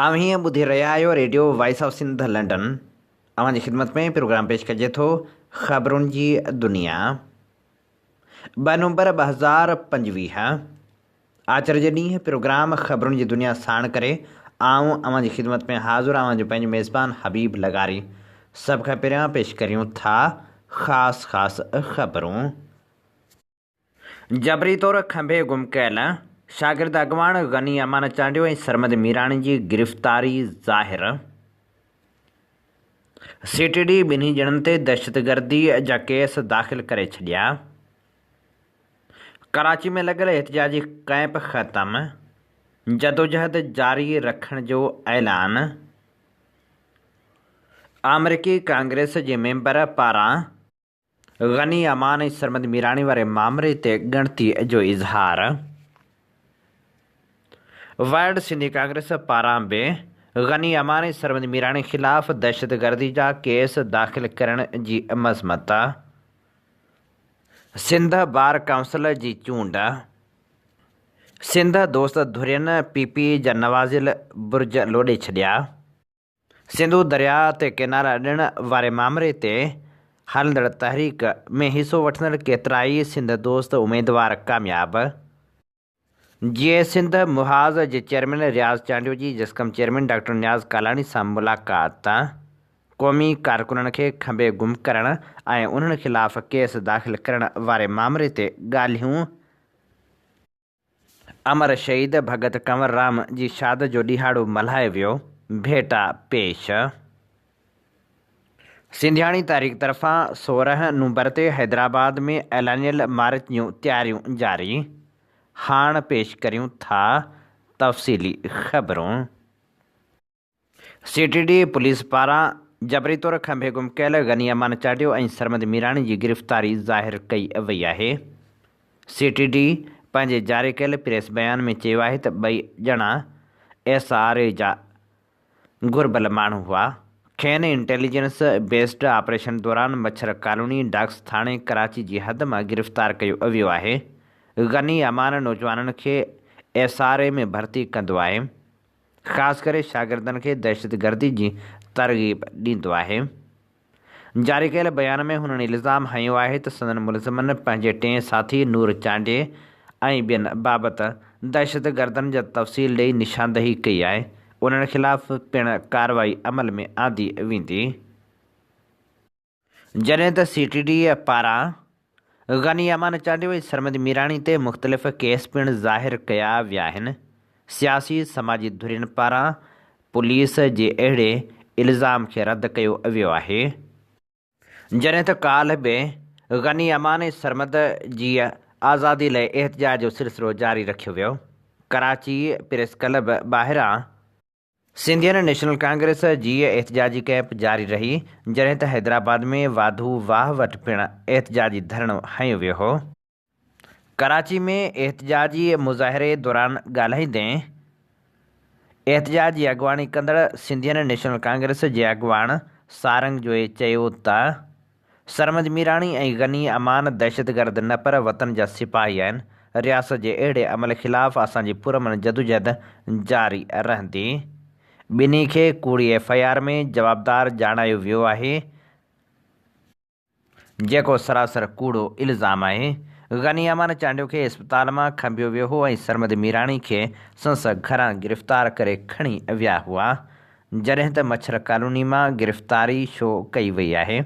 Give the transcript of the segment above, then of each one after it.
اوهين ٻڌي رهيا آهيو radio voice of Sindh London اوهان جي خدمت ۾ پروگرام پيش ڪجي ٿو خبرن جي دنيا ٻه نومبر ٻه هزار پنجويهه آچر جي ڏينهن پروگرام خبرن جي دنيا ساڻ ڪري آئون اوهان جي خدمت ۾ حاضر اوهان جو پنهنجو ميزبان حبيب لغاري سڀ کان پهريان پيش ڪريون ٿا خاص خاص خبرون جبري طور کنڀي گم ڪيل شاگرد اڳواڻ غني امان چانڊيو ۽ سرمد ميراڻي جي گرفتاري ظاهر سي ٽي ڊي ٻنهي ڄڻن تي دهشتگردي جا ڪيس داخل ڪري ڇڏيا، ڪراچي ۾ لڳل احتجاجي ڪئمپ ختم، جدوجهد جاري رکڻ جو اعلان، آمريڪي ڪانگريس جي ميمبر پاران. غني امان ۽ سرمد ميراڻي واري مامري تي ڳڻتي جو اظهار ورلڊ سنڌي ڪانگريس پاران به غني امان ۽ سرمد ميراڻي خلاف دهشتگردي جا ڪيس داخل ڪرڻ جي مذمت سنڌ بار ڪائونسل جي چونڊ سنڌ دوست ڌرين پي پي جا نوازيل برج لوڏي ڇڏيا. سنڌو درياء تي ڪينال اڏڻ واري مامري تي هلندڙ تحريڪ ۾ حصو وٺندڙ ڪيترائي سنڌ دوست اميدوار ڪامياب، جيئي سنڌ، محاذ جي چيئرمين رياض چانڊيو جي جسقم چيئرمين ڊاڪٽر نياز ڪالاڻي سان ملاقات، قومي ڪارڪنن کي کنڀي گم ڪرڻ ۽ انهن خلاف ڪيس داخل ڪرڻ واري مامري تي ڳالهيون، امر شهيد ڀڳت ڪنوررام جي شاد جو ڏهاڙو ملهايو ويو، ڀيٽا پيش. سنڌياڻي تحريڪ طرفان سورهن نومبر تي حيدرآباد ۾ اعلانيل مارچ جون تياريون جاري، هاڻ پيش ڪريون ٿا تفصيلي خبرون. سي ٽي ڊي پوليس پاران جبري طور کنڀي گم ڪيل غني امان چاڍيو ۽ سرمد ميراڻي جي گرفتاري ظاهر ڪئي وئي آهي. سي ٽي ڊي پنهنجي جاري ڪيل پريس بيان ۾ چيو آهي ته ٻئي ڄڻا ايس آر اي جا گهربل ماڻهو هئا، کين انٽيليجنس بيسڊ آپريشن دوران مڇر ڪالوني ڊاڪس ٿاڻي ڪراچي جي حد مان گرفتار ڪيو ويو آهي. غني امان نوجوانن کي ايس آر اي ۾ ڀرتي ڪندو آهي. خاص ڪري شاگردن کي دهشتگردي جي ترغيب ڏيندو آهي. جاري ڪيل بيان ۾ هنن الزام هنيو آهي ته سندن ملزمن پنهنجي ٽئين ساٿي نور چانڊيي ۽ ٻين بابت دهشتگردن جا تفصيل ڏئي نشاندهي ڪئي آهي، انهن خلاف پڻ ڪارروائي عمل ۾ آندي ويندي. جڏهن ته سي ٽي ڊي اي پاران غني امان چانڊيو ۽ سرمد ميراڻي تي مختلف ڪيس پڻ ظاهر ڪيا ويا آهن، سياسي سماجي ڌرين پاران پوليس جي اهڙي الزام کي رد ڪيو ويو آهي، جڏهن ته ڪالهه به غني امان ۽ سرمد جي آزادي لئه احتجاج جو سلسلو جاري رکيو ويو، ڪراچي پريس ڪلب ٻاهران. سنڌين نيشنل ڪانگريس جيء احتجاجي ڪئمپ جاري رهي جڏهن ته حيدرآباد ۾ واڌو واهه وٽ پڻ احتجاجي ڌرڻو هنيو ويو هو. ڪراچي ۾ احتجاجي مظاهري دوران ڳالهائيندي احتجاج جي اڳواڻي ڪندڙ سنڌين نيشنل ڪانگريس جي اڳواڻ سارنگ جويي چيو ته سرمد ميراڻي ۽ غني امان دهشتگرد نه پر وطن جا سپاهي آهن، رياست جي اهڙي عمل خلاف اسان جي پرامن جدوجهد جاري رهندي. ٻنهي کي ڪوڙي ايف آء آر ۾ جوابدار ڄاڻايو ويو آهي، جيڪو سراسر ڪوڙو الزام آهي، غني امان چانڊيو کي اسپتال مان کنڀيو ويو هو ۽ سرمد ميراڻي کي سنس گهران گرفتار ڪري کڻي ويا هئا، جڏهن ته مڇر ڪالوني مان گرفتاري شو ڪئي وئي آهي،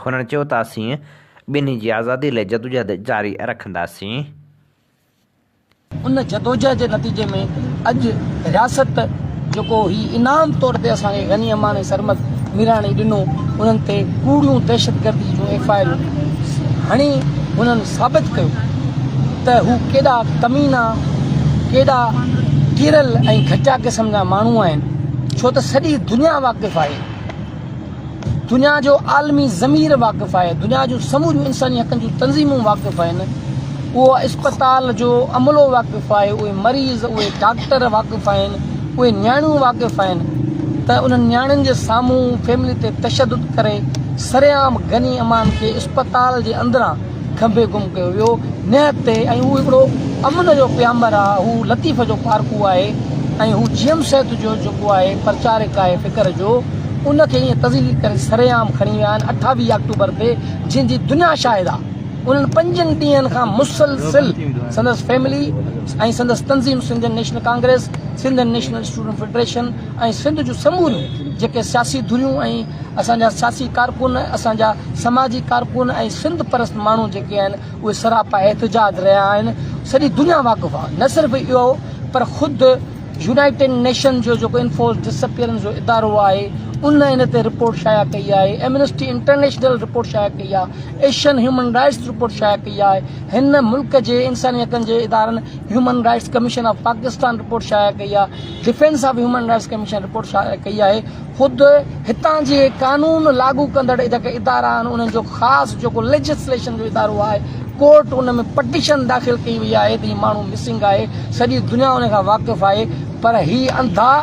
هنن چيو ته اسين ٻنهي جي آزادي لئه جدوجهد جاري رکنداسين. ان جدوجهد جي نتيجي ۾ اڄ رياست جيڪو هي انعام طور تي اسان کي غني امان ۽ سرمد ميراڻي ڏنو انهن تي ڪوڙيون دهشتگردي جون ايف آء آرون هڻي انهن ثابت ڪيو ته هو ڪيڏا ڪمينا، ڪيڏا ڪيرل ۽ گهٽيا قسم جا ماڻهو آهن، ڇو ته سڄي دنيا واقف آهي، دنيا جو عالمي ضمير واقف آهي، دنيا جون سموريون انساني حقن جون تنظيمون واقف آهن، اهو اسپتال جو عملو واقف آهي، اهي مريض، اهي ڊاڪٽر واقف آهن، اهي نياڻيون واقف آهن ته انهن نياڻين جي سامهون فيملي تي تشدد ڪري سرعام غني امان کي اسپتال جي اندران کنڀي گم ڪيو ويو نهت تي ۽ هو هڪڙو امن جو پيامبر آهي هو لطيف جو پارکو آهي ۽ هو جي ايم صحت جو جيڪو آهي پرچارڪ آهي فڪر جو ان کي ائين تذليل ڪري سرعام کڻي ويا آهن اٺاويهه آڪٽوبر تي جنهن جي دنيا شاهد آهي. انهن پنجن ڏينهن کان مسلسل سندس فيملي ۽ سندس تنظيم Sindhian national congress, Sindh national student federation ۽ Sindh جون سموريون جيڪي سياسي ڌريون ۽ اسان جا سياسي ڪارڪن، اسان جا سماجي ڪارڪن ۽ سنڌ پرست ماڻهو جيڪي آهن اهي سراپا احتجاج رهيا آهن سڄي دنيا واقف آهي نه صرف اهو پر خود يونائيٽيڊ نيشنز جو جيڪو انفورسڊ ڊس اپيئرنس جو ادارو آهي ان ان تي رپورٽ شايع ڪئي آهي ايمنسٽي انٽرنيشنل رپورٽ شايع ڪئي آهي ايشين هيومن رائٽس رپورٽ شايع ڪئي آهي هن ملڪ جي انساني حقن جي ادارن human rights commission of Pakistan report شايع ڪئي آهي defence of human rights commission report شايع ڪئي آهي خود هتان جي قانون لاڳو ڪندڙ جيڪي ادارا آهن انهن جو خاص جيڪو ليجسليشن جو ادارو آهي ڪورٽ ان ۾ پٽيشن داخل ڪئي وئي آهي ته هي ماڻهو مسنگ آهي سڄي دنيا ان کان واقف آهي پر هي انڌا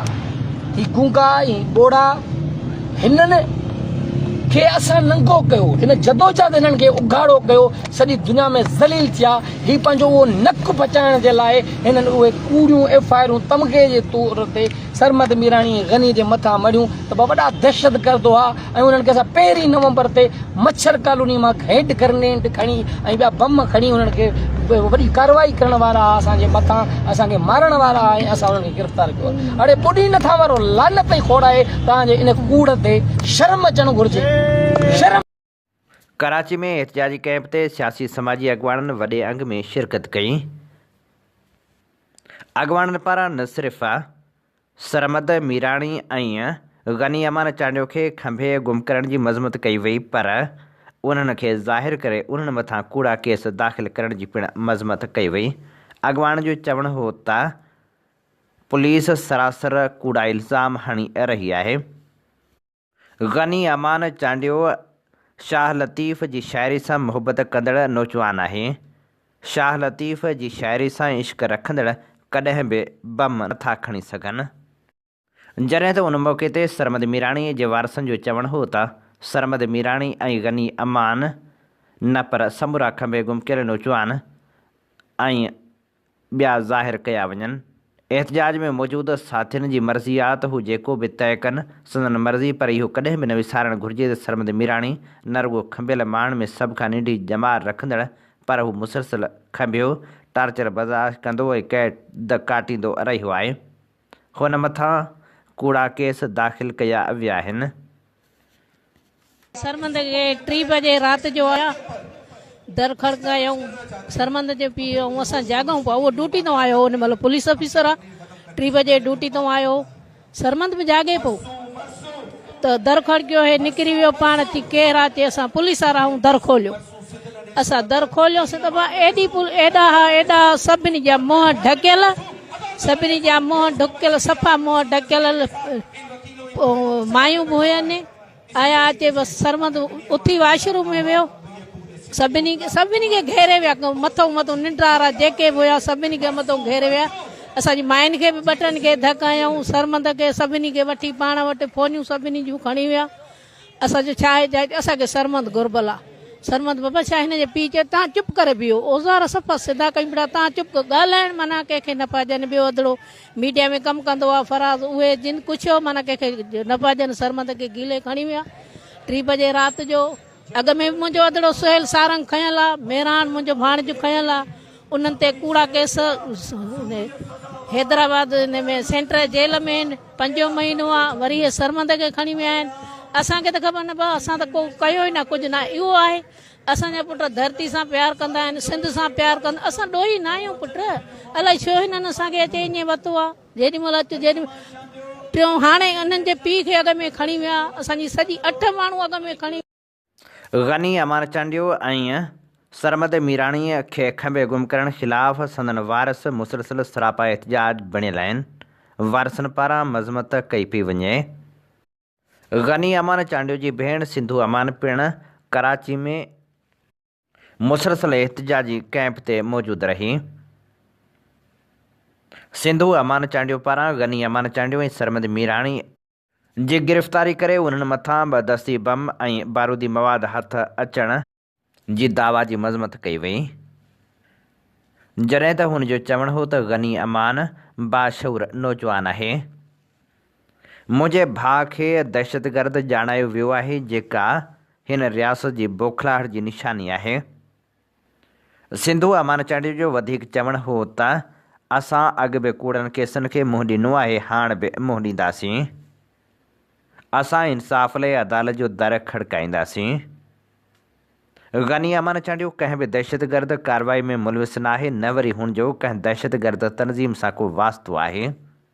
هي گونگا هي ٻوڙا هنن کي اسان ننگو ڪيو هن جدوجهد هنن کي اگهاڙو ڪيو سڄي دنيا ۾ ذليل ٿيا هي پنهنجو اهو نڪ بچائڻ جي لاء هنن اهي ڪوڙيون ايف آئرون تمغي جي طور تي سرمد ميراڻي ۽ غني جي مٿان مڙهيون ته ٻه وڏا دهشتگرد هئا ۽ انهن کي اسان پهرين نومبر تي مڇر ڪالوني مان هينڊ گرنيڊ کڻي ۽ ٻيا بم کڻي انهن کي وڏي ڪارروائي ڪرڻ وارا هئا اسان جي مٿان اسان کي مارڻ وارا هئا ۽ اسان انهن کي گرفتار ڪيو آهي. اڙي پوڏي نٿان وارو لعنت ئي کوڙائي توهان جي ان ڪوڙ تي شرم اچڻ گهرجي. شرم. ڪراچي ۾ احتجاجي ڪئمپ تي سياسي سماجي اڳواڻن وڏي انگ ۾ شرڪت ڪئي، اڳواڻن پاران نه صرف سرمد ميراڻي ۽ غني امان چانڊيو کي کنڀي گم ڪرڻ جي مذمت ڪئي وئي پر انهن کي ظاهر ڪري انهن مٿان ڪوڙا ڪيس داخل ڪرڻ جي پڻ مذمت ڪئي وئي، اڳواڻن جو چوڻ هو ته پوليس سراسر ڪوڙا الزام هڻي رهي آهي. غني امان چانڊيو شاهه لطيف جي شاعري سان محبت ڪندڙ نوجوان آهي. شاهه لطيف جي شاعري سان عشق رکندڙ ڪڏهن به بم نه ٿا کڻي سگهن. جڏهن ته ان موقعي تي سرمد ميراڻي جي وارثن جو چوڻ هو ته سرمد ميراڻي ۽ غني امان نه پر سمورا کنڀي گم ڪيل نوجوان ۽ ٻيا ظاهر ڪيا وڃن. احتجاج ۾ موجود ساٿين جي مرضي آ ته هو جيڪو به طئي ڪن، سندن مرضي پر اهو ڪڏهن به نه وسارڻ گهرجي ته سرمد ميراڻي نه رڳو کنڀيل ماڻهن ۾ سڀ کان ننڍي ڄمار رکندڙ پر هو مسلسل کنڀيو، ٽارچر برداشت ڪندو ۽ قيد ڪاٽيندو رهيو آهي. هن مٿان ڪوڙا ڪيس داخل ڪيا وياهن. سرمد کي ٽي بجي رات جو آيا در کڙڪايائون سرمد جي پيء ۽ اسان جاڳائون پيا اهو ڊوٽي تان آيو هو ان مهل پوليس آفيسر آ ٽي بجي ڊوٽي تان آيو هو سرمد به جاڳي پيو ته در کڙڪيو هي نڪري ويو پاڻ اچي ڪير آ چي اسان پوليس وارا آهيون در کوليو. اسان در کوليوسين ته مان ايڏي پول ايڏا ها ايڏا ها سڀني جا منهن ڍڪيل سڀني جا منهن ڍڪيل صفا منهن ڍڪيل مايون به هين آيا اچي بس سرمد اٿي واشروم ۾ ويو سڀني کي سڀني کي گهيري ويا مٿو مٿو ننڊارا جيڪي به هيا سڀني کي مٿو گهيري ويا اسان جي ماين کي به ٻٽن کي ڌڪ هيائون سرمد کي سڀني کي وٺي پاڻ وٽ فونيون سڀني جون کڻي ويا اسان جو ڇا احتجاج ٿيو اسان کي سرمد گهربل آ سرمد بابا شاهه هن جي پيء چيو تهان چپ ڪري بيهو اوزار صفا سڌا ڪيون پيا تهان چپ ڪرو ڳالهائڻ معنيٰ ڪنهن کي نه پيا ڏين ٻيو اڌڙو ميڊيا ۾ ڪم ڪندو آ فراز اهي جن ڪڇيو معنيٰ ڪنهن کي نه پيا ڏين سرمد کي گيلي کڻي ويا ٽي بجي رات جو اڳ ۾ به منهنجو اڌڙو سهيل سارنگ کنيل آ ميران منهنجو ڀاڻجو کنيل آ انهن تي ڪوڙا ڪيس حيدرآباد ۾ سينٽر جيل ۾ آهن پنجون مهينو آهي وري هي سرمند کي کڻي ويا آهن اسان کي ته خبر نه پئي اسان ته ڪو ڪيو ئي نه ڪجهه نه اهو آهي اسان جا پٽ ڌرتي سان پيار ڪندا آهن سنڌ سان پيار ڪندا اسان ڏوهي نه آهيون پٽ الائي ڇو هنن اسان کي اچي ائين وتو آهي جيڏي مهل اچ جيڏي ٽيون هاڻي انهن جي پيء کي اڳ ۾ کڻي ويا اسان جي سڄي اٺ ماڻهو اڳ ۾ کڻي غني امان چانڊيو ۽ سرمد ميراڻيء کي کنڀي گم ڪرڻ خلاف سندن وارث مسلسل سراپا احتجاج بڻيل آهن، وارثن پاران مذمت ڪئي پئي وڃي. غني امان چانڊيو جي ڀيڻ سنڌو امان پڻ ڪراچي ۾ مسلسل احتجاجي ڪئمپ تي موجود رهي. سنڌو امان چانڊيو پاران غني امان چانڊيو ۽ سرمد ميراڻي. جي گرفتاري ڪري انهن مٿان ٻه دستي بم ۽ بارودي مواد هٿ اچڻ جي دعويٰ جي مذمت ڪئي وئي جڏهن ته هن جو چوڻ هو ته غني امان باشعور نوجوان آهي منهنجي ڀاء کي دهشتگرد ڄاڻايو ويو آهي جيڪا هن رياست جي بوکلاهٽ جي نشاني آهي سنڌو امان چانڊيو جو وڌيڪ چوڻ هو ته اسان اڳ به ڪوڙن ڪيسن کي منهن ڏنو آهي هاڻ به منهن ڏينداسين، اسان انصاف لئي عدالت جو در کڙڪائينداسين. غني امان چانڊيو ڪنهن به دهشتگرد ڪارروائي ۾ ملوث ناهي نه وري هن جو ڪنهن دهشتگرد تنظيم سان ڪو واسطو آهي.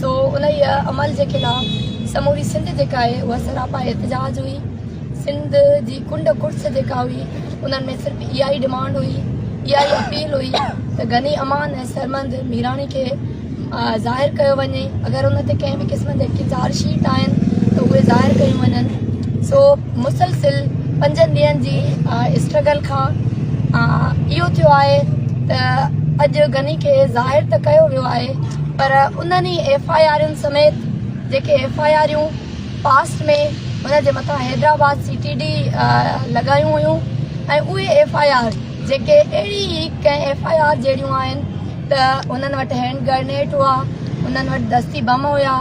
سو انهيء عمل جي خلاف سموري سنڌ جيڪا آهي اها سراپا احتجاج هئي. سنڌ جي ڪنڊ ڪڙڇ جيڪا هئي انهن ۾ صرف اها ئي ڊمانڊ هئي، اها ئي اپيل هئي ته غني امان ۽ سرمد ميراڻي کي ظاهر ڪيو وڃي، اگر ان تي ڪنهن به قسم جي چارج شيٽ آهن ته اهي ظاهر ڪيون وڃن. سو مسلسل پنجن ڏينهن جي اسٽرگل کان اهو ٿيو آهي ته اڄ غني کي ظاهر ته ڪيو ويو آهي. پر انهن ئي ايف آء آرن سميت جيڪي ايف آء آريون پاسٽ ۾ هن جي مٿان حيدرآباد سي ٽي ڊي لڳايون هيون ۽ اهي ايف آء آر جيڪي اهڙي ئي ڪنهن ايف آء آر جهڙيون آهن ته انهن وٽ هينڊ گرنيٽ هئا انهن وٽ دستي بم هيا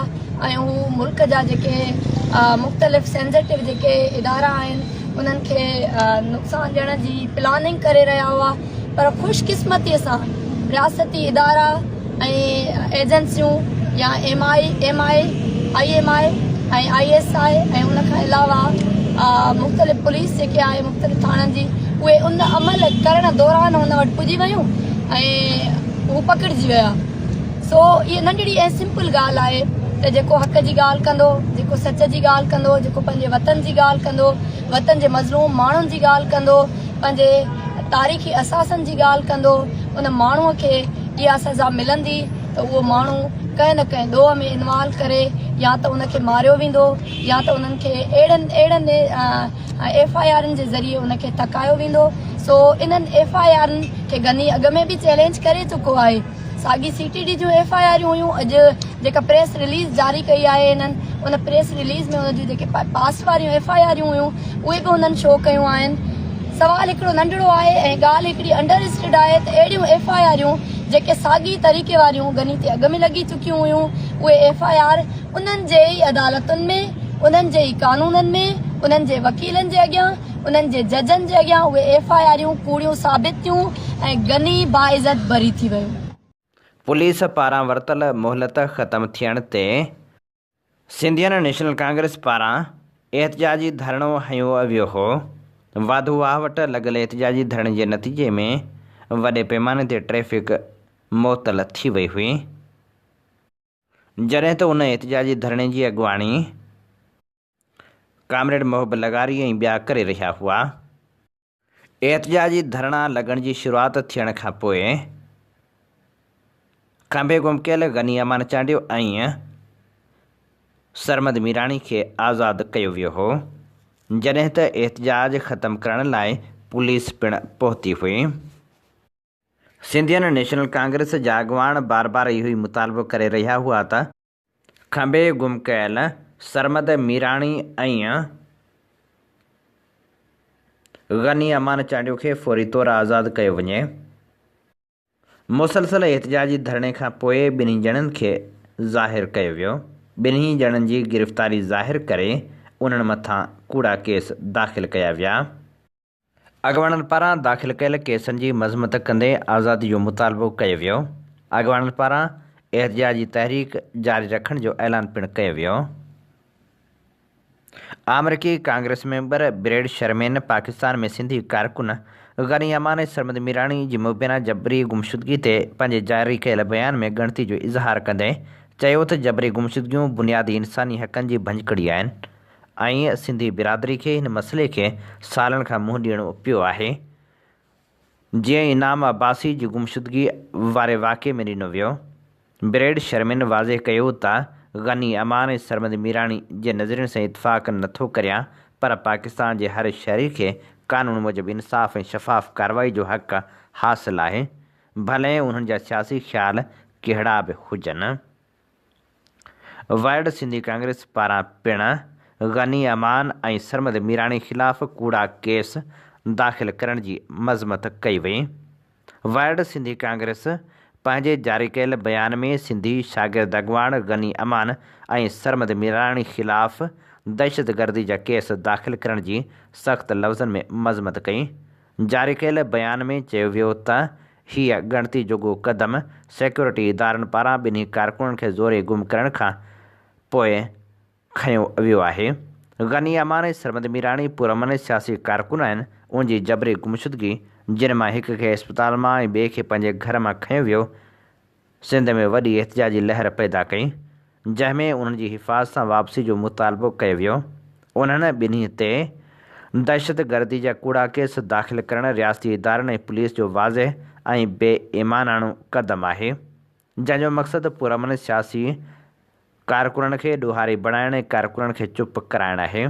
۽ هو ملڪ جا جيڪي مختلف سينزيٽو جيڪي ادارا آهن انهن کي نقصان ڏيڻ جي پلاننگ ڪري رهيا هئا پر خوش قسمتي سان رياستي ادارا ۽ ايجنسيون يا M I M I I M I ۽ I S I ۽ ان کان علاوه مختلف پوليس جيڪي آهي مختلف ٿاڻن جي اهي ان عمل ڪرڻ دوران هن وٽ پڄي ويون ۽ هو پڪڙجي ويا سو هي ننڍڙي ۽ سمپل ڳالهه آهي ته جيڪو حق جي ڳالهه ڪندو جيڪو سچ جي ڳالهه ڪندو جيڪو پنهنجي وطن جي ڳالهه ڪندو وطن جي مظلوم ماڻهن جي ڳالهه ڪندو پنهنجي تاريخي اثاثن جي ڳالهه ڪندو ان ماڻهوء کي اها سزا ملندي ته اهو ماڻهو ڪنهن نه ڪنهن ڏوهه ۾ انوالو ڪري يا ته ان کي ماريو ويندو يا ته انهن کي اهڙن اهڙن ايف آء آرن جي ذريعي ان کي ٿڪايو ويندو سو انهن ايف آء آرن کي غني اڳ ۾ به چئلينج ڪري چڪو آهي ساڳي سي ٽي ڊي جون ايف آء آرون هيون اڄ جيڪا پريس رليز جاري ڪئي آهي هنن ان پريس رليز ۾ هن جون جيڪي پاسٽ واريون ايف آء آرون هيون اهي به هنن شو ڪيون آهن سوال هڪڙو ننڍڙو آهي ۽ ڳالهه هڪڙي انڊر اسٽيڊ آهي ته اهڙيون ايف آء آرون جيڪي ساڳي طريقي واريون غني تي اڳ ۾ لڳي چڪيون هيون اهي ايف آء آر انهن جي ئي عدالتن ۾ انهن جي ئي قانونن ۾ انهن جي وڪيلن جي اڳيان انهن جي ججن جي اڳيان اهي ايف آء آريون ڪوڙيون ثابت ٿيون ۽ غني باعزت بري ٿي ويو. پوليس پاران ورتل مهلت ختم ٿيڻ تي. سنڌين نيشنل ڪانگريس پاران احتجاجي ڌرڻو هنيو ويو هو، واڌو واهه وٽ لڳل احتجاجي ڌرڻي جي نتيجي ۾ وڏي پيماني تي ٽريفڪ معطل ٿي وئي هئي، جڏهن ته ان احتجاجي ڌرڻي جي اڳواڻي. ڪامريڊ محب لغاري ۽ ٻيا ڪري رهيا هئا. احتجاجي ڌرڻا لڳڻ جي شروعات ٿيڻ کان پوء کنڀي گم ڪيل غني امان چانڊيو ۽ سرمد ميراڻي کي آزاد ڪيو ويو هو، جڏهن ته احتجاج ختم ڪرڻ لاء پوليس پڻ پهتي هئي. سنڌين نيشنل ڪانگريس جا اڳواڻ بار بار اهو ئي مطالبو ڪري رهيا هئا ته کنڀي گم ڪيل سرمد ميراڻي ۽ غني امان چانڊيو کي فوري طور آزاد ڪيو وڃي. مسلسل احتجاجي ڌرڻي کان پوء ٻنهي ڄڻن کي ظاهر ڪيو ويو. ٻنهي ڄڻن جي گرفتاري ظاهر ڪري انهن مٿان ڪوڙا ڪيس داخل ڪيا ويا. اڳواڻن پاران داخل ڪيل ڪيسن جي مذمت ڪندي آزادي جو مطالبو ڪيو ويو. اڳواڻن پاران احتجاجي تحريڪ جاري رکڻ جو اعلان پڻ ڪيو ويو. آمريڪي congress member Brad Sherman Pakistan ۾ Sindhi ڪارڪن غني امان ۽ سرمد ميراڻي جي مبينا جبري گمشدگي تي پنهنجي جاري ڪيل بيان ۾ ڳڻتي جو اظهار ڪندي چيو ته جبري گمشدگيون بنيادي انساني حقن جي ڀڃڪڙي آهن. ۽ سنڌي برادري کي هن مسئلي کي سالن کان منهن ڏيڻو پيو آهي. جيئن انعام عباسي جي گمشدگي واري واقعي ۾ ڏنو ويو. بريڊ شرمين واضح ڪيو ته غني امان ۽ سرمد ميراڻي جي نظرين سان اتفاق نه ٿو ڪريان پر پاڪستان جي هر شهري کي قانون موجب انصاف ۽ شفاف ڪارروائي جو حق حاصل آهي ڀلئين انهن جا سياسي خيال ڪهڙا به هجن. وارڊ سنڌي ڪانگريس پاران پڻ غني امان ۽ سرمد ميراڻي خلاف ڪوڙا ڪيس داخل ڪرڻ جي مذمت ڪئي وئي. وارڊ سنڌي ڪانگريس پنهنجي جاري ڪيل بيان ۾ سنڌي شاگرد اڳواڻ غني امان ۽ سرمد ميراڻي خلاف دهشتگردي جا ڪيس داخل ڪرڻ جي سخت لفظن ۾ مذمت ڪئي جاري ڪيل بيان ۾ چيو ويو ته هيء ڳڻتي جوڳو قدم سيڪيورٽي ادارن پاران ٻنهي ڪارڪنن کي زوري گم ڪرڻ کان پوء کنيو ويو آهي. غني امان ۽ سرمد ميراڻي پرامن ۽ سياسي ڪارڪن آهن، ان جي جبري گمشدگي، جن مان هڪ کي اسپتال مان ۽ ٻئي کي پنهنجي گهر مان کنيو ويو، سنڌ ۾ وڏي احتجاجي لهر پيدا ڪئي، جنهن ۾ انهن جي حفاظ سان واپسي جو مطالبو ڪيو ويو. انهن ٻنهي تي دهشتگردي جا ڪوڙا ڪيس داخل ڪرڻ رياستي ادارن ۽ پوليس جو واضح ۽ بي ايماناڻو قدم آهي، جنهن جو مقصد پرامن سياسي ڪارڪنن کي ڏوهاري بڻائڻ ۽ ڪارڪنن کي چپ ڪرائڻ آهي.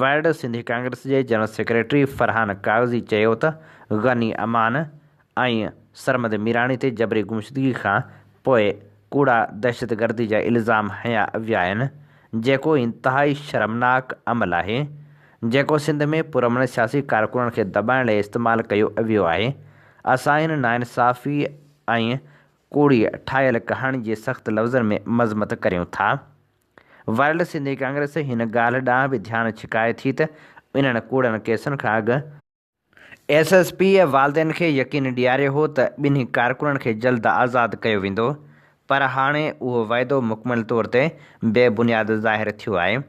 وارڊ سنڌي ڪانگريس جي جنرل سيڪريٽري فرحان ڪاغذي چيو ته غني امان ۽ سرمد ميراڻي تي جبري گمشدگي کان پوء ڪوڙا دهشتگردي جا الزام هنيا ويا آهن جيڪو انتهائي شرمناڪ عمل آهي جيڪو سنڌ ۾ پرامن سياسي ڪارڪنن کي دٻائڻ لاء استعمال ڪيو ويو آهي اسان ان ناانصافي ۽ ڪوڙي ٺاهيل ڪهاڻي جي سخت لفظن ۾ مذمت ڪريون ٿا. ورلڊ سنڌي ڪانگريس هن ڳالهه ڏانهن به ڌيان ڇڪائي ٿي ته انهن ڪوڙن ڪيسن کان اڳ ايس ايس پي والدين کي يقين ڏياريو هو ته ٻنهي ڪارڪنن کي جلد آزاد ڪيو ويندو پر هاڻي اهو وعدو مڪمل طور تي بي بنياد ظاهر ٿيو آهي.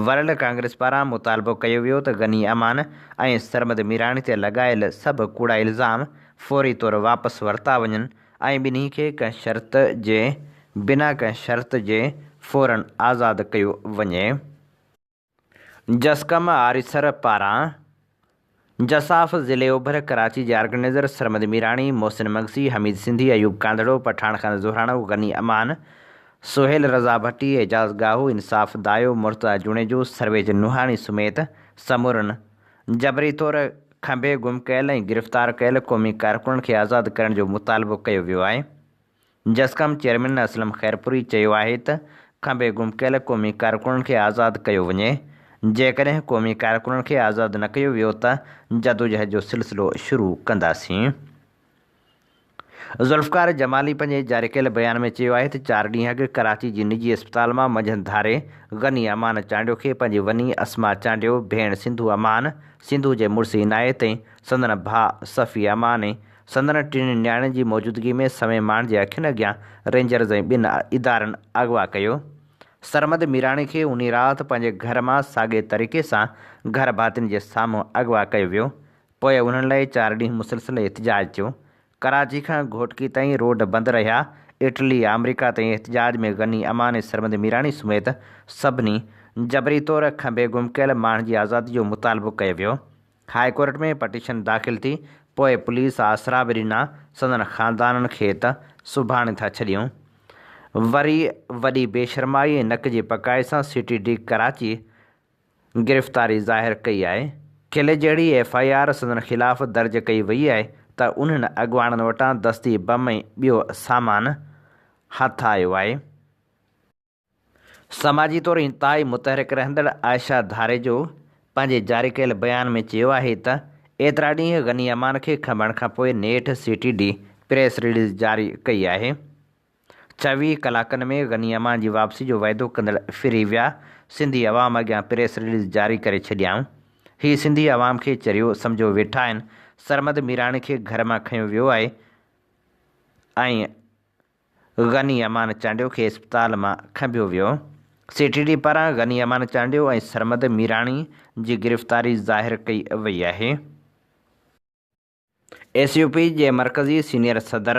ورلڊ ڪانگريس پاران مطالبو ڪيو ويو ته غني امان ۽ سرمد ميراڻي تي لڳايل سڀ ڪوڙا الزام فوري طور واپس ورتا وڃن، ۽ ٻنهي کي ڪنهن شرط جي بنا ڪنهن شرط جي فورا آزاد ڪيو وڃي. جسقم آريسر پاران جساف ضلعي اوڀر ڪراچي جي آرگنائيزر سرمد ميراڻي، محسن مگسي، حميد سنڌي، ايوب ڪانڌڙو، پٺاڻ خان زهراڻو، غني امان، سهيل رضا ڀٽي، اعجاز ڳاهو، انصاف دايو، مرتضيٰ جوڻيجو، سرويچ نوحاڻي سميت سمورن جبري طور کنڀي گم ڪيل ۽ گرفتار ڪيل قومي ڪارڪنن کي آزاد ڪرڻ جو مطالبو ڪيو ويو آهي. جسقم چيئرمين اسلم خيرپوري چيو آهي ته کنڀي گم ڪيل قومي ڪارڪنن کي آزاد ڪيو وڃي، جيڪڏهن قومي ڪارڪنن کي آزاد نه ڪيو ويو ته جدوجهد جو سلسلو شروع ڪنداسين. ذوالفقار جمالي پنهنجي جاري ڪيل بيان ۾ چيو آهي ته چار ڏينهن اڳ ڪراچي جي نجي اسپتال مان منجهند ڌاري غني امان چانڊيو کي پنهنجي وني اسما چانڊيو، ڀيڻ سنڌو امان، سنڌو جي مڙس عنايت ۽ سندن ڀاء صفي امان ۽ سندن ٽن نياڻين جي موجودگي ۾ سوين ماڻهن جي اکين اڳيان رينجرز ۽ ٻن ادارن اغوا ڪيو. سرمد ميراڻي کي انهي رات پنهنجي گهر مان ساڳئي طريقي سان گهر ڀاتين جي سامهون اغوا ڪيو ويو پوء انهن لئي چار ڏينهن مسلسل احتجاج ٿيو. ڪراچي کان گهوٽڪي تائين روڊ بند رهيا. اٽلي، آمريڪا تائين احتجاج ۾ غني، اماني، سرمد ميراڻي سميت سڀني جبري طور کنڀي گم ڪيل ماڻهن جي آزادي جو مطالبو ڪيو ويو. هاء ڪورٽ ۾ پٽيشن داخل ٿي، پوء پوليس آسرا به ڏنا، سندن خاندانن کي ته سڀاڻي ٿا ڇڏيون. وري وڏي بيشرمائي ۽ نڪ جي پڪائي سان سٽي ڊي ڪراچي گرفتاري ظاهر ڪئي آهي. قلعي جهڙي ايف آء آر سندن خلاف درج ڪئي وئي آهي ته انهن اڳواڻن وٽان دستي بم ۽ ٻيو سامان هٿ آيو آهي. سماجي طور انتهائي متحرڪ رهندڙ عائشه ڌاريجو پنهنجي جاري ڪيل بيان ۾ چيو آهي ته ايترا ڏينهن غني امان کي کنڀڻ کانپوء نيٺ C T D press release جاري ڪئي آهي. چويهه ڪلاڪن ۾ غني امان جي واپسي جو وعدو ڪندڙ ڦري ويا، سنڌي عوام اڳيان پريس رليز جاري ڪري ڇڏيائون، هي سنڌي عوام کي چريو سمجهيو ويٺا آهن، سرمد ميراڻي کي گهر مان کنيو ويو آهي ۽ غني امان چانڊيو کي اسپتال مان کنڀيو ويو، سي ٽي ڊي پاران غني امان چانڊيو ۽ سرمد ميراڻي جي گرفتاري ظاهر ڪئي وئي آهي. ايس يو پي جي مرڪزي سينيئر صدر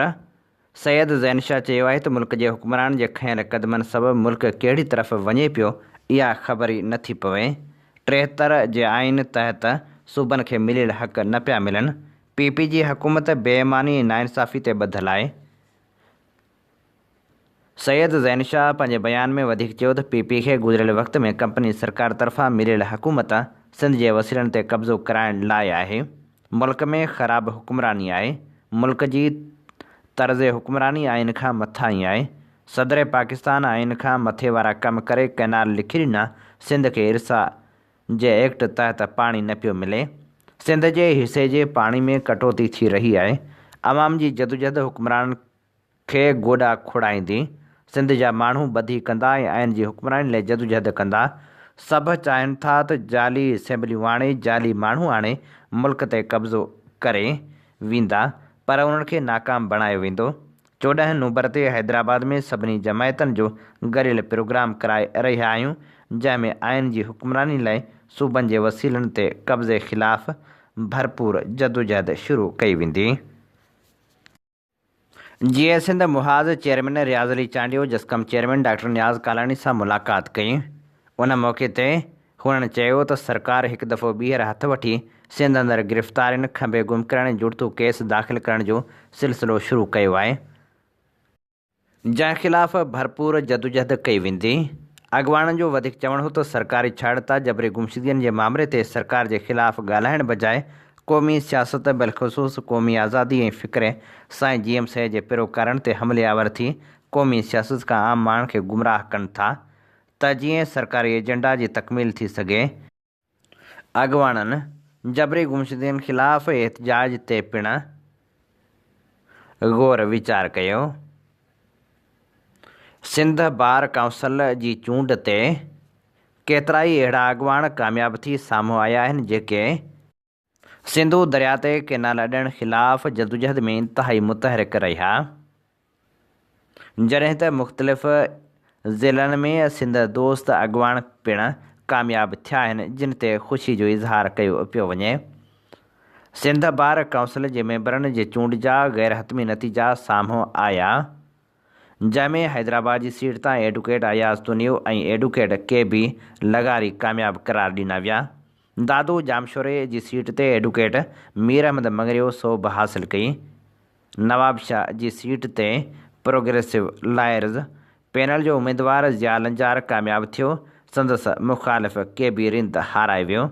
سيد زين شاهه چيو آهي ته ملڪ جي حڪمرانن جي کنيل قدمن سبب ملڪ ڪهڙي طرف وڃي پيو اها خبر ئي نه ٿي پوي، ٽيهتر جي آئين تحت صوبن کي مليل حق نه پيا ملن، پي پي جي حڪومت بي ايماني ۽ ناانصافي تي ٻڌل آهي، سيد زين شاهه پنهنجي بيان ۾ وڌيڪ چيو ته پي پي کي گذريل وقت ۾ ڪمپني سرڪار طرفان مليل حڪومت سنڌ جي وسيلن تي قبضو ڪرائڻ لاء آهي، ملڪ ۾ خراب حڪمراني آهي، ملڪ جي طرز حڪمراني آئين کان مٿاهين آهي، صدر پاڪستان آئين کان مٿي وارا ڪم ڪري ڪئنال لکي ڏنا، سنڌ کي ارسا جي ايڪٽ تحت پاڻي نه پيو ملي، سنڌ جي حصي جي پاڻي ۾ ڪٽوتي ٿي رهي آهي، عوام جي جدوجهد حڪمرانن کي گوڏا کوڙائيندي سنڌ جا ماڻهو ٻڌي ڪندا ۽ آئين جي حڪمراني لاء جدوجهد ڪندا. سڀ چاهين ٿا ته جعلي اسيمبليون آڻي، جعلي ماڻهو آڻي ملڪ تي قبضو ڪري ويندا پر انهن کي ناڪام بڻايو ويندو. چوڏهن نومبر تي حيدرآباد ۾ سڀني جماعتن جو گڏيل پروگرام ڪرائي رهيا آهيون جنهن ۾ آئين جي حڪمراني لاء صوبن جي وسيلن تي قبضي خلاف ڀرپور جدوجهد شروع ڪئي ويندي. Jeay Sindh Mahaz chairman Riaz Ali Chandio JSQM chairman doctor Niaz Kalani سان ملاقات ڪئي، ان موقعي تي هنن چيو ته سرڪار هڪ دفعو ٻيهر هٿ وٺي سنڌ اندر گرفتارين، کنڀي گم ڪرڻ ۽ جڙتو ڪيس داخل ڪرڻ جو سلسلو شروع ڪيو آهي. جنهن خلاف ڀرپور جدوجهد ڪئي ويندي. اڳواڻن جو وڌيڪ چوڻ هو ته سرڪاري ڇاڙتا جبري گمشدگين جي مامري تي سرڪار جي خلاف ڳالهائڻ بجاء قومي سياست بلخصوص قومي آزادي ۽ فڪري سائين جي ايم سيد جي پيروڪارن تي حملي آور ٿي قومي سياست کان عام ماڻهن کي گمراهه ڪن ٿا ته جيئن سرڪاري ايجنڊا جي تڪميل ٿي سگهي. اڳواڻن جبري گمشدگين خلاف احتجاج تي پڻ غور ويچار ڪيو. سنڌ بار ڪائونسل جي چونڊ تي ڪيترائي اهڙا اڳواڻ ڪامياب ٿي سامهون آيا آهن جيڪي سنڌو درياء تي ڪئنال اڏڻ خلاف جدوجهد ۾ انتهائي متحرڪ رهيا، جڏهن ته مختلف ضلعن ۾ سنڌ دوست اڳواڻ پڻ ڪامياب ٿيا آهن، جن تي خوشي جو اظهار ڪيو پيو وڃي. سنڌ بار ڪائونسل جي ميمبرن جي چونڊ جا غيرحتمي نتيجا سامهون آيا، جنهن ۾ حيدرآباد جي سيٽ تان advocate Ayaz Tunio ۽ advocate K B لغاري ڪامياب قرار ڏنا ويا، دادو ڄامشوري جي سيٽ تي ايڊوڪيٽ مير احمد مڱريو صوب حاصل ڪئي. نوابشاهه جي سيٽ تي پروگريسو لائرز پينل جو اميدوار ضياء لنجار ڪامياب ٿيو، سندس مخالف ڪي بي رند هارائي ويو.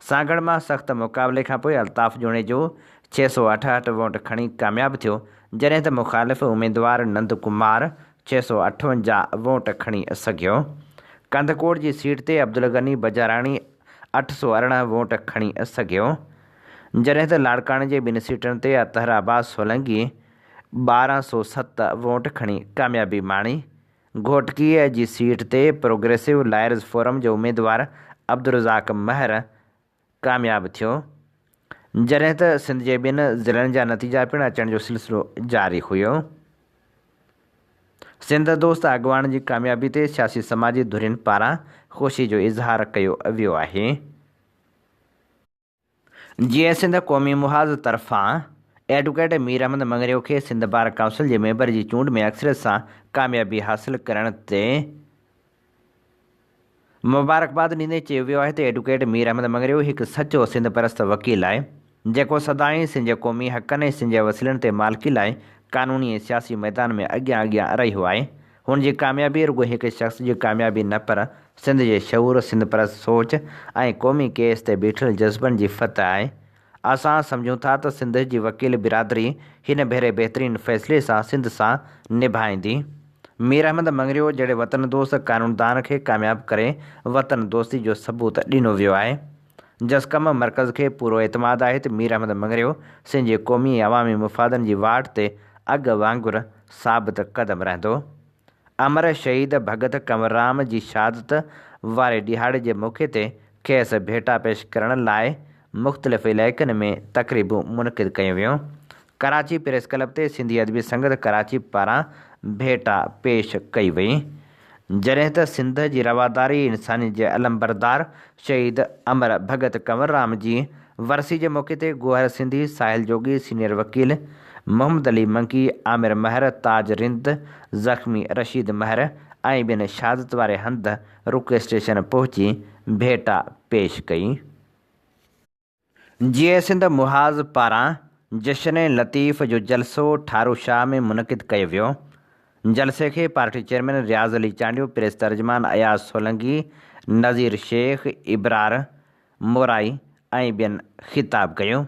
سانگهڙ مان سخت مقابلي کانپوء الطاف جوڻيجو ڇهه سؤ اٺهٺ ووٽ کڻي ڪامياب ٿيو، جڏهن ته مخالف اميدوار نند ڪمار ڇهه سؤ اٺونجاهه ووٽ کڻي سگهيو. ڪنڌڪوٽ جي سيٽ تي عبدالغني بجاراڻي اٺ سؤ ارڙهن ووٽ کڻي سگهيو، جڏهن ته لاڙڪاڻي جي ٻن سيٽن تي اطهر عباس سولنگي ٻارهن سؤ ست ووٽ کڻي ڪاميابي ماڻي. گهوٽڪيء جي سيٽ تي پروگريسو لائرز فورم جو اميدوار عبدالرزاق مهر ڪامياب ٿيو، جڏهن ته سنڌ جي ٻين ضلعن جا نتيجا پڻ اچڻ جو سلسلو جاري هيو. سنڌ دوست اڳواڻن جي ڪاميابي تي سياسي سماجي ڌرين پاران خوشي جو اظهار ڪيو ويو آهي. جيئي سنڌ قومي محاذ طرفان ايڊوڪيٽ مير احمد مڱريو کي سنڌ بار ڪائونسل جي ميمبر جي چونڊ ۾ اڪثريت سان ڪاميابي حاصل ڪرڻ تي مبارڪباد ڏيندي چيو ويو آهي ته ايڊوڪيٽ مير احمد مڱريو هڪ سچو سنڌ پرست وڪيل آهي، جيڪو سدائين سنڌ جي قومي حقن ۽ سنڌ جي وسيلن تي مالڪي لاء قانوني ۽ سياسي ميدان ۾ اڳيان اڳيان رهيو آهي. هن جي ڪاميابي رڳو هڪ شخص جي ڪاميابي نه پر سنڌ جي شعور، سنڌ پرست سوچ ۽ قومي ڪيس تي بيٺل جذبن جي فتح آهي. اسان سمجهون ٿا ته سنڌ جي وڪيل برادري هن ڀيري بهترين فيصلي سان سنڌ سان نڀائيندي. مير احمد مڱريو جهڙي وطن دوست قانوندان کي ڪامياب ڪري وطن دوستي جو ثبوت ڏنو ويو آهي. جسقم مرڪز کي پورو اعتماد آهي ته مير احمد مڱريو سنڌ جي قومي ۽ عوامي مفادن جي واٽ تي اڳ وانگر ثابت قدم رهندو. امر شهيد ڀڳت ڪنوررام جي شهادت واري ڏهاڙي جي موقعي تي کيس ڀيٽا پيش ڪرڻ لاء مختلف علائقن ۾ تقريبون منعقد ڪيون ويون. ڪراچي پريس ڪلب تي سنڌي ادبي سنگت ڪراچي پاران ڀيٽا پيش ڪئي وئي. جڏهن ته سنڌ جي رواداري انساني جي علمبردار شهيد امر ڀڳت ڪنوررام جي ورسي جي موقعي تي گوهر سنڌي، ساحل جوڳي، سينيئر وڪيل محمد علي منگي، عامر مهر، تاج رند، زخمي رشيد مهر ۽ ٻين شهادت واري هنڌ رڪي اسٽيشن پهچي ڀيٽا پيش ڪئي. جيئي سنڌ محاذ پاران جشن لطيف جو جلسو ٺارو شاهه ۾ منعقد ڪيو ويو، جلسي کي party chairman Riaz Ali Chandio, press ترجمان اياز سولنگي، نذير شيخ، ابرار مورائي ۽ ٻين خطاب ڪيو،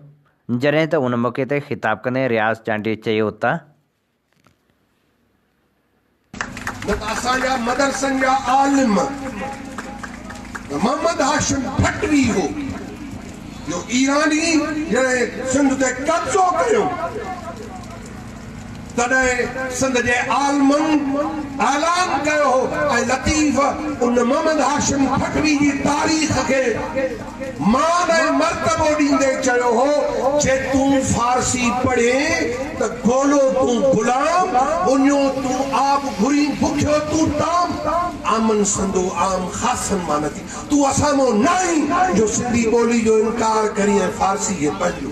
جڏهن ته ان موقعي تي خطاب ڪندي رياض چانڊيي چيو ته. نه ته اسان جا مدرسن جا عالم ته محمد هاشم ڀٽوي هو جو ايراني جڏهن سنڌ تي قبضو ڪيو تڏهن سنڌ جي عالمن اعلان ڪيو هو ۽ لطيف ان محمد هاشم ڀٽوي جي تاريخ کي مان ۽ مرتبو ڏيندي چيو هو جي تون فارسي پڙهين ته گولو تون غلام اڃو تون آب گهرين بکيو تون ٽام آمن سندو عام خاصن مان نه ٿي تون اسان مون ناهين جو سنڌي ٻولي جو انڪار ڪرين ۽ فارسي کي پنهنجو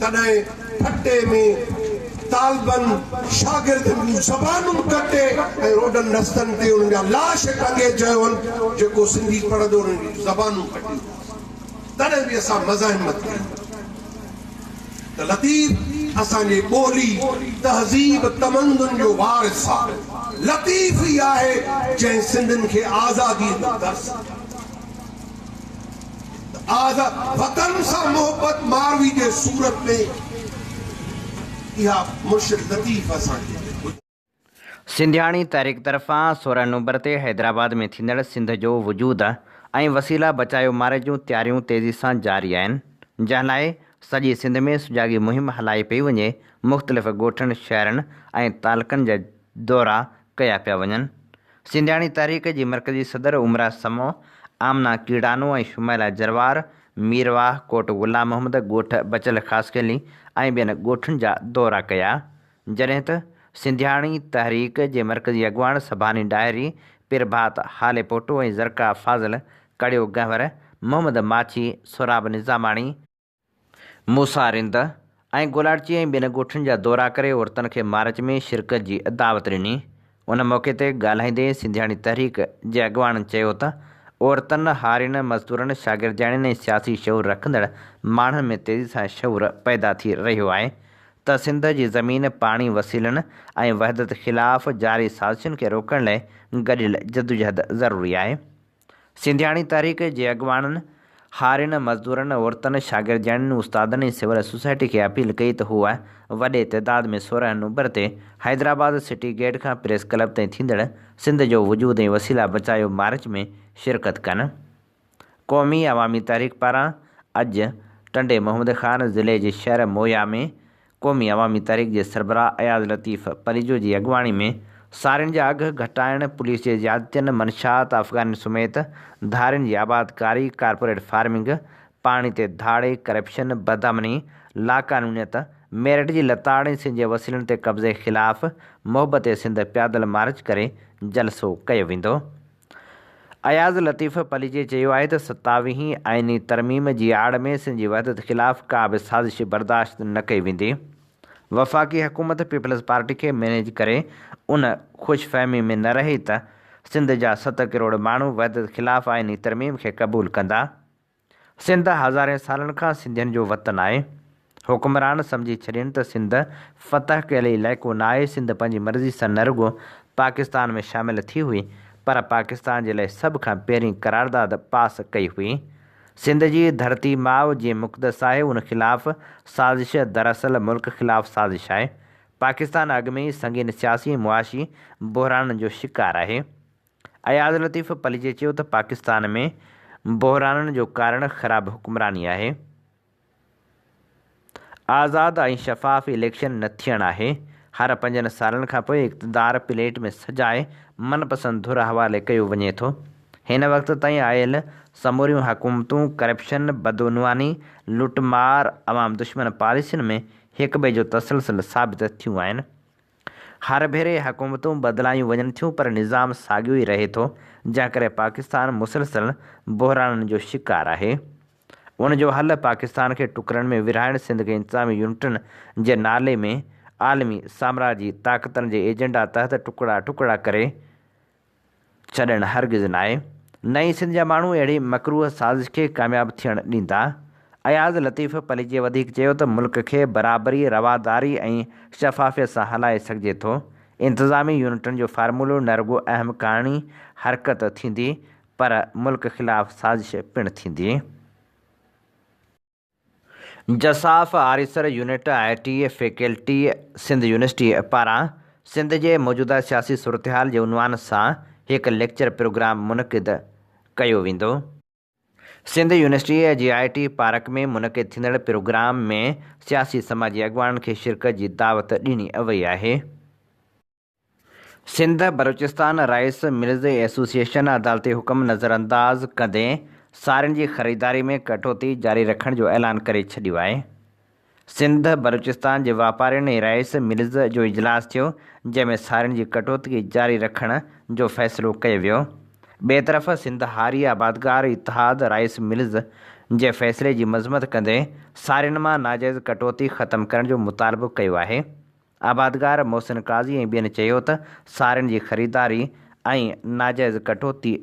تڏهن ٺٽي ۾ طالبن شاگردن جون زبانون ڪٽي ۽ روڊن رستن تي انهن جا لاش ٽنگي چيو هن جيڪو سنڌي پڙهندو انهن جون زبانون ڪٽينداسين تڏهن به اسان مزاحمت ڪئي ته لطيف اسان جي ٻولي تهذيب تمدن جو وارث آ لطيف ئي آهي جنهن سنڌين کي آزادي جو درس ڏنو. آزاد وطن سان محبت ماروي جي صورت ۾ اها مرشد لطيف اسان کي ٻڌائي. سنڌياڻي تحريڪ طرفان سورهن نومبر تي حيدرآباد ۾ ٿيندڙ سنڌ جو وجود ۽ وسيلا بچايو ماري جون تياريون تيزي سان جاري آهن جنهن لاء سڄي سنڌ ۾ سجاڳي مهم هلائي پئي وڃي مختلف ڳوٺن شهرن ۽ تعلقن جا دورا ڪيا پيا وڃن. سنڌياڻي تحريڪ جي مرڪزي صدر عمرا سمو، آمنا ڪيڙانو ۽ شمائلا جروار مير واهه، ڪوٽ غلام محمد، ڳوٺ بچل خاصخيلي ۽ ٻين ڳوٺن جا دورا ڪيا، جڏهن ته سنڌياڻي تحريڪ جي مرڪزي اڳواڻ سڀاني ڏاهري، پيرڀات هاليپوٽو ۽ زرقا فاضل، ڪڙيو گهنور، محمد ماڇي، سهراب نظاماڻي، موسيٰ رند ۽ گولاڙچي ۽ ٻين ڳوٺن جا دورا ڪري عورتن کي مارچ ۾ شرڪت جي دعوت ڏني. ان موقعي تي ڳالهائيندي سنڌياڻي تحريڪ جي اڳواڻن چيو ته عورتن، هارين، مزدورن، شاگردياڻين ۽ سياسي شعور رکندڙ ماڻهن ۾ تيزي سان شعور پيدا ٿي رهيو آهي ته سنڌ جي زمين، پاڻي، وسيلن ۽ وحدت خلاف جاري سازشن کي روڪڻ لاء گڏيل جدوجهد ضروري آهي. سنڌياڻي تحريڪ جي اڳواڻن، هارين، مزدورن، عورتن، شاگردياڻين، استادن ۽ سول سوسائٽي کي اپيل ڪئي ته هو وڏي تعداد ۾ سورهن نومبر تي حيدرآباد سٽي گيٽ کان پريس ڪلب تائين ٿيندڙ سنڌ جو وجود ۽ وسيلا بچايو مارچ ۾ شرڪت ڪن. قومي عوامي تحريڪ پاران اڄ ٽنڊي محمد خان ضلعي جي شهر مويا ۾ قومي عوامي تحريڪ جي سربراهه اياز لطيف پريجو جي اڳواڻي ۾ سارين جا اگهه گهٽائڻ، پوليس جي زيادتين، منشيات افغانين سميت ڌارين جي آبادڪاري، ڪارپوريٽ فارمنگ، پاڻي تي ڌاڙي، ڪرپشن، بدامني، لاقانونيت، ميرٽ جي لتاڙ ۽ سنڌ جي وسيلن تي قبضي خلاف محبت سنڌ پيادل مارچ ڪري جلسو ڪيو ويندو. اياز لطيف پليجي چيو آهي ته ستاويهين آئيني ترميم جي آڙ ۾ سنڌ جي وحدت خلاف ڪا به سازش برداشت نه ڪئي ويندي، وفاقي حڪومت پيپلز پارٽي کي مئنيج ڪري ان خوش فهمي ۾ نه رهي ته سنڌ جا ست ڪروڙ ماڻهو وحدت خلاف آئيني ترميم کي قبول ڪندا، سنڌ هزارين سالن کان سنڌين جو وطن آهي. حڪمران سمجهي ڇڏين ته سنڌ فتح ڪيل علائقو نه آهي، سنڌ پنهنجي مرضي سان نه رڳو پاڪستان ۾ شامل ٿي هئي پر پاڪستان جي لاء سڀ کان پهرين قرارداد پاس ڪئي هئي. سنڌ جي ڌرتي ماء جيئن مقدس آهي ان خلاف سازش دراصل ملڪ خلاف سازش آهي. پاڪستان اڳ ۾ ئي سنگين سياسي ۽ معاشي بحرانن جو شڪار آهي. اياز لطيف پليجي چيو ته پاڪستان ۾ بحرانن جو ڪارڻ خراب حڪمراني آهي، آزاد ۽ شفاف اليڪشن نه ٿيڻ آهي، هر پنجن سالن کانپوء اقتدار پليٽ ۾ سجائي من پسند ڌر حوالي ڪيو وڃي ٿو، هن وقت تائين آيل سموريون حڪومتون ڪرپشن، بدعنواني، لٽ مار، عوام دشمن پاليسين ۾ هڪٻئي جو تسلسل ثابت ٿيون آهن. هر ڀيري حڪومتون بدلايون وڃن ٿيون پر نظام ساڳيو ئي رهي ٿو جنهن ڪري پاڪستان مسلسل بحرانن جو شڪار آهي ان جو حل پاڪستان کي ٽڪرن ۾ ورهائڻ سنڌ کي انتظامي يونٽن جي نالي ۾ عالمي سامراجي طاقتن جي ايجنڊا تحت ٽڪڙا ٽڪڙا ڪري ڇڏڻ هرگز ناهي. نه ئي سنڌ جا ماڻهو اهڙي مڪروهه سازش کي ڪامياب ٿيڻ ڏيندا. اياز لطيف پليجي وڌيڪ چيو ته ملڪ کي برابري، رواداري ۽ شفافيت سان هلائي سگهجي ٿو. انتظامي يونٽن جو فارمولو نه رڳو اهم ڪاڻي حرڪت ٿيندي پر ملڪ خلاف سازش پڻ ٿيندي. جساف آريسر unit I T faculty Sindh university پاران سنڌ جي موجوده سياسي صورتحال جي عنوان سان هڪ ليڪچر پروگرام منعقد ڪيو ويندو. سنڌ يونيورسٽيء جي آء ٽي پارڪ ۾ منعقد ٿيندڙ پروگرام ۾ سياسي سماجي اڳواڻن کي شرڪت جي دعوت ڏني وئي آهي. Sindh Balochistan rice mills association عدالتي حڪم نظرانداز ڪندي سارين جي خريداري ۾ ڪٽوتي جاري رکڻ جو اعلان ڪري ڇڏيو آهي. سنڌ بلوچستان جي واپارين ۽ رائيس ملز جو اجلاس ٿيو جنهن ۾ سارين جي ڪٽوتي جاري رکڻ جو فيصلو ڪيو ويو. ٻئي طرف سنڌ هاري آبادگار اتحاد رائيس ملز جي فيصلي جي مذمت ڪندي سارين مان ناجائز ڪٽوتي ختم ڪرڻ جو مطالبو ڪيو آهي. آبادگار محسن قاضي ۽ ٻين چيو ته سارين جي خريداري ۽ ناجائز ڪٽوتي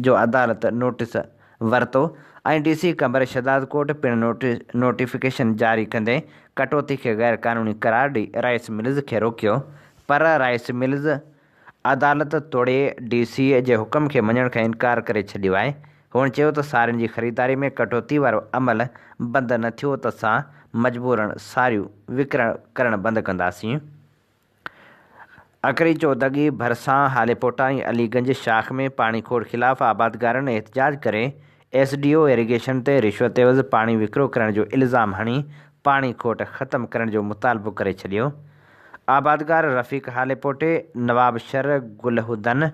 جو عدالت نوٽيس ورتو ۽ ڊي سي قمبر شھدادڪوٽ پڻ نوٽيفڪيشن جاري ڪندي ڪٽوتي کي غيرقانوني قرار ڏئي رائيس ملز کي روڪيو پر رائيس ملز عدالت توڙي ڊي سي اي جي حڪم کي مڃڻ کان انڪار ڪري ڇڏيو آهي. هن چيو ته سارين جي خريداري ۾ ڪٽوتي وارو عمل بند نه ٿيو ته اسان مجبورن ساريون وڪرڻ ڪرڻ بند ڪنداسين. اکري چودڳي ڀرسان هاليپوٽا ۽ علي گنج شاخ ۾ پاڻي کوڙ خلاف آبادگارن احتجاج ڪري ايس ڊي او ايريگيشن تي رشوت عيوض پاڻي وڪرو ڪرڻ جو الزام هڻي پاڻي کوٽ ختم ڪرڻ جو مطالبو ڪري ڇڏيو. آبادگار رفيق هاليپوٽي، نوابشھر، گلهودن،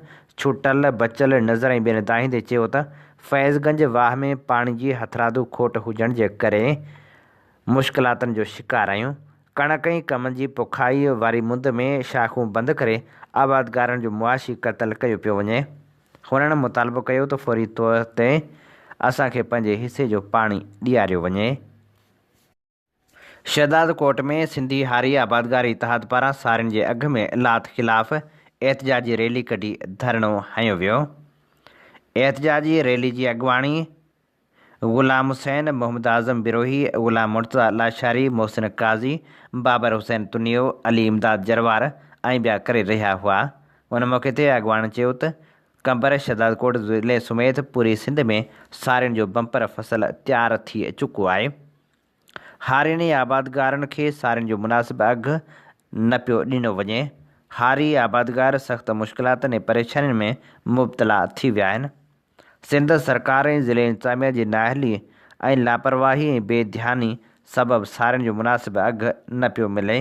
ڇوٽل، بچل نظر ۽ ٻين دانهيندي چيو ته فيض گنج واھ ۾ پاڻي جي هٿرادو کوٽ هجڻ جي ڪري مشڪلاتن جو شڪار آهيون، ڪڻڪ ۽ ڪمند جي پوکائي واري مند ۾ شاخون بند ڪري آبادگارن جو معاشي قتل ڪيو پيو وڃي. هنن مطالبو ڪيو ته فوري طور تي اسان کي پنهنجي حصي جو پاڻي ڏياريو وڃي. شهدادڪوٽ ۾ سنڌي هاري آبادگار اتحاد پاران سارين جي اگهه ۾ لات خلاف احتجاجي ريلي ڪڍي ڌرڻو هنيو ويو. احتجاجي ريلي جي اڳواڻي غلام حسين، محمد اعظم بروهي، غلام مرتضيٰ لاشاري، محسن قاضي، بابر حسين تنيو، علي امداد جروار ۽ ٻيا ڪري رهيا هئا. ان موقعي تي اڳواڻن چيو ته قمبر شهدادڪوٽ ضلعي سميت پوري سنڌ ۾ سارين جو بمپر فصل تيار ٿي چڪو آهي، هارين ۽ آبادگارن کي سارين جو مناسب اگهه نه پيو ڏنو وڃي، هاري آبادگار سخت مشڪلاتن ۽ پريشانين ۾ مبتلا ٿي ويا آهن. سنڌ سرڪار ۽ ضلعي انتظاميا جي نااهلي ۽ لاپرواهي ۽ بي ڌياني سبب سارين جو مناسب اگهه نه پيو ملي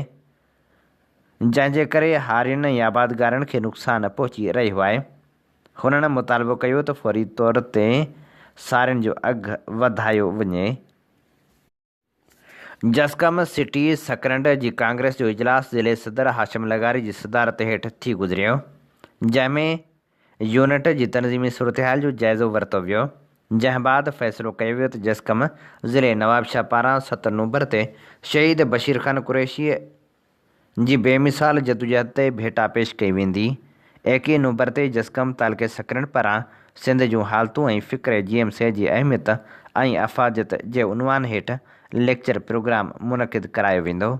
جنهن جي ڪري هارين ۽ آبادگارن کي نقصان پهچي رهيو آهي هنن مطالبو ڪيو ته فوري طور تي سارين جو اگهه وڌايو وڃي. جسقم سٽي سڪرنڊ جي ڪانگريس جو اجلاس ضلعي صدر هاشم لغاري جي صدارت هيٺ ٿي گذريو، جنهن ۾ يونٽ جي تنظيمي صورتحال جو جائزو ورتو ويو، جنهن بعد فيصلو ڪيو ويو ته جسقم ضلعي نوابشاهه پاران ست نومبر تي شهيد بشير خان قريشي جي بي مثال جدوجهد تي ڀيٽا پيش ڪئي ويندي. ايڪيهه نومبر تي جسقم تعلقي سڪرين پران سنڌ جون حالتون ۽ فڪري جي ايم سي جي اهميت ۽ افاديت جي عنوان هيٺ ليڪچر پروگرام منعقد ڪرايو ويندو.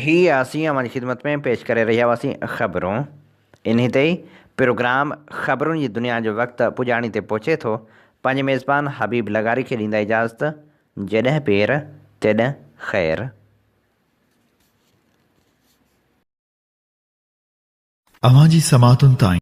هي اسين اوهان جي خدمت ۾ پيش ڪري رهيا هئاسين خبرون. انهي تي پروگرام خبرون جي دنيا جو وقت پڄاڻي تي پهچي ٿو. پنهنجي ميزبان حبيب لغاري کي ڏيندا اجازت. جڏهن پير تڏهن خير. اوهان جي سماعتن تائين.